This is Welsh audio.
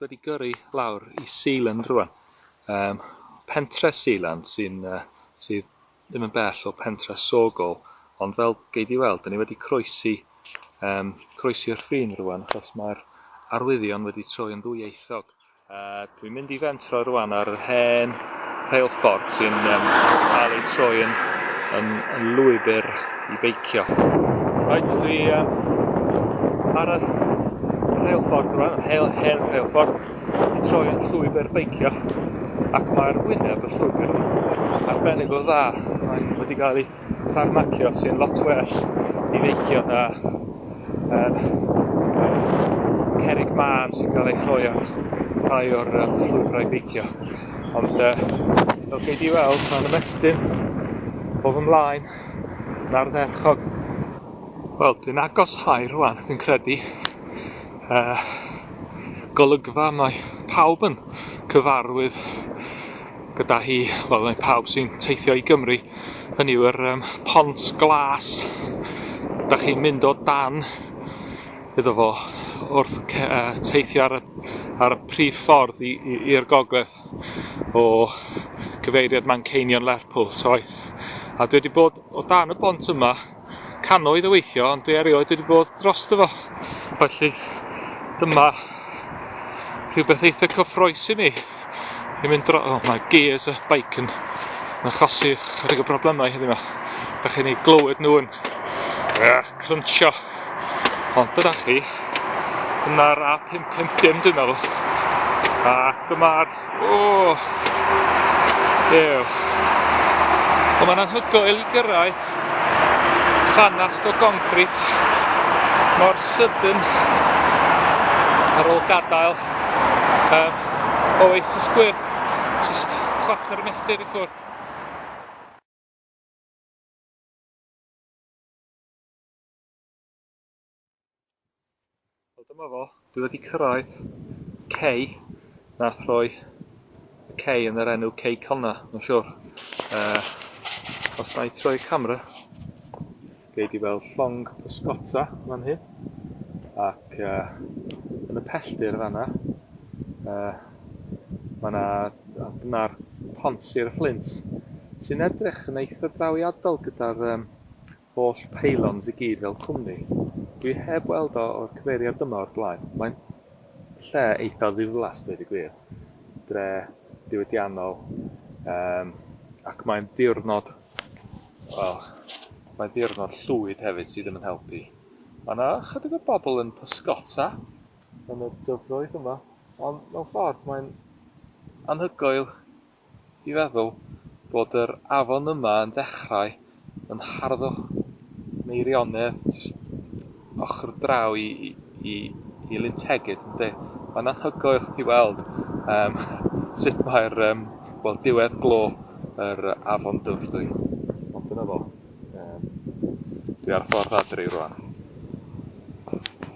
wedi gyrru lawr i Sealand rwan. Um, pentre Sealand sy'n uh, sydd ddim yn bell o pentre Sogol, ond fel gei di weld, dan ni wedi croesi, um, croesi'r ffin rwan, achos mae'r arwyddion wedi troi yn ddwyieithog. Uh, dwi'n mynd i fentro rwan ar yr hen rheilffordd sy'n um, cael ei troi yn, yn, yn lwybr i beicio. Rhaid dwi um, ar y rheilffordd rwan, hen, hen rheilffordd, i troi yn llwybr beicio ac mae'r wyneb y llwybr yn arbennig o dda. Mae'n wedi cael ei tarmacio sy'n lot well i feicio na um, cerig mân sy'n cael ei chroi ar rhai o'r um, llwybrau beicio. Ond uh, fel chi wedi weld, mae'n ymestyn o fy mlaen na'r dderchog. Wel, dwi'n agos hau rwan, dwi'n credu. uh, golygfa mae pawb yn cyfarwydd gyda hi, wel mae pawb sy'n teithio i Gymru, hynny yw'r um, pont glas, da chi'n mynd o dan iddo fo wrth uh, teithio ar y, ar y prif ffordd i'r gogledd. o gyfeiriad Manceinion Lerpwl, so aeth, a dwi wedi bod o dan y bont yma cannoedd o weithio, ond dwi erioed wedi bod dros fo. Felly, dyma rhywbeth eitha cyffroes i mi. Dwi'n mynd dro... Oh, mae gears y bike yn, yn achosi chydig o broblemau heddiw yma. Da chi'n ei glywed nhw'n uh, cruncho. Ond dyna chi, dyna'r A550 dwi'n meddwl. A dyma'r... O! Ew. Ond mae'n anhygoel i gyrraedd llanast o goncrit mor sydyn ar ôl gadael um, oasis gwyrdd, just chwarter y milltir i ffwrdd. Wel dyma fo, dwi wedi cyrraedd cei nath rhoi y cei yn yr enw cei Conna, mae'n siwr. Uh, os na i troi y camera, gei di weld llong pysgota fan hyn, ac uh, yn y pelldir fanna, uh, mae yna dyna'r pont Sir y Fflint, sy'n edrych yn eitha drawiadol gyda'r um, Holl pylons i gyd fel cwmni. Dwi heb weld o o'r cyfeiriad yma o'r blaen. Mae'n lle eitha ddiflas dweud y gwir. Dre diwydiannol yym ac mae'n ddiwrnod wel mae'n ddiwrnod llwyd hefyd sydd ddim yn helpu. Ma' 'na chydig o bobl yn pysgota yn y dyfroedd yma ond mewn ffordd mae'n anhygoel I feddwl bod yr afon yma yn dechrau yn harddwch Meirionnydd jyst ochr draw i i i Lyn Tegid yndi? Mae'n anhygoel i weld yym sut mae'r yym wel diwedd glo yr afon Dyfrdwy. Ond dyna fo. Yym dwi ar y ffordd adre rwan.